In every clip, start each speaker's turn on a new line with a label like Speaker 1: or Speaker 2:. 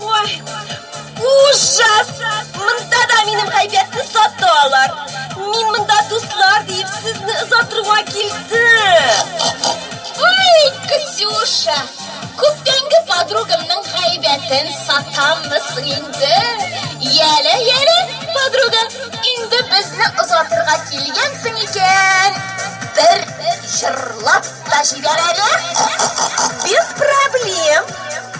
Speaker 1: Ой, ужас! Монда да минем гайбәтне сатты алар. Мин монда дуслар диеп сезне озатырга килдем. Ой, Ксюша, күптәнге подругамның гайбәтен сатаммысың инде. Яле, яле, подруга, инде безне озатырга килгәнсең икән, бер җырлап та җибәр әле. Без проблем.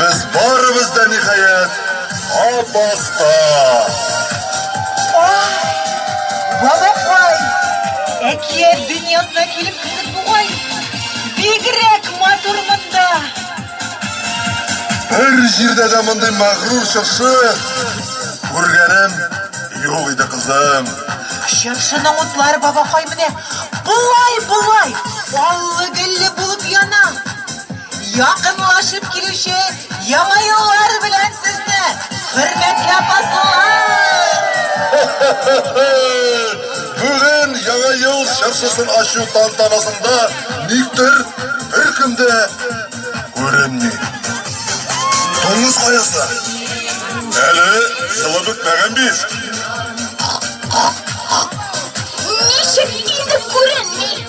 Speaker 1: Без барыбыз да ниһаять Абакта. Ах, бабакай, әкият дөньясына килеп кердек бугай. Бигрәк матур монда. Бер җирдә дә мондый мәгърур чыршы күргәнем юк иде кызым. Чыршының утлары бабакай менә болай-болай аллы-гөлле булып яна. Якынлашып килүче Яңа еллар белән сезне, хөрмәтле Апаслылар! Бүген Яңа ел чыршысын ачу тантанасында никтер беркем дә күренми. Дуңгыз каясы, әле елы бетмәгән бит. Ничек инде күренми?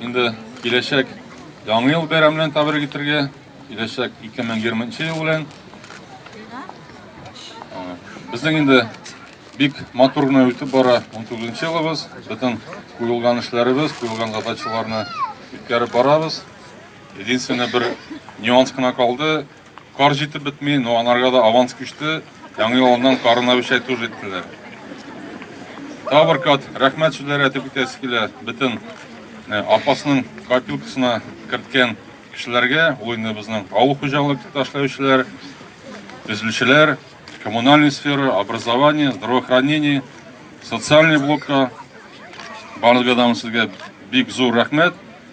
Speaker 1: Инде киләчәк яңа ел бәйрәме белән тәбрик итәргә, киләчәк 2020 ел белән. Безнең инде бик матур гына үтеп бара 19 елыбыз. Бөтен куелган эшләребез, куелган задачаларны үткәреп барабыз. Единственное бер нюанс кына калды. Кар җитеп бетми, но анарга да аванс күчте. Яңа елыннан карын әвешәй туж иттеләр. Тагы бер кат рәхмәт сүзләре әйтеп үтәсе килә бөтен э, апасының копилкасына керткән кешеләргә, ул инде безнең авыл хуҗалыкта эшләүчеләр, төзелүчеләр, коммунальный сфера, образование, здравоохранение, социальный блокка барлыгыдан сезгә бик зур рәхмәт.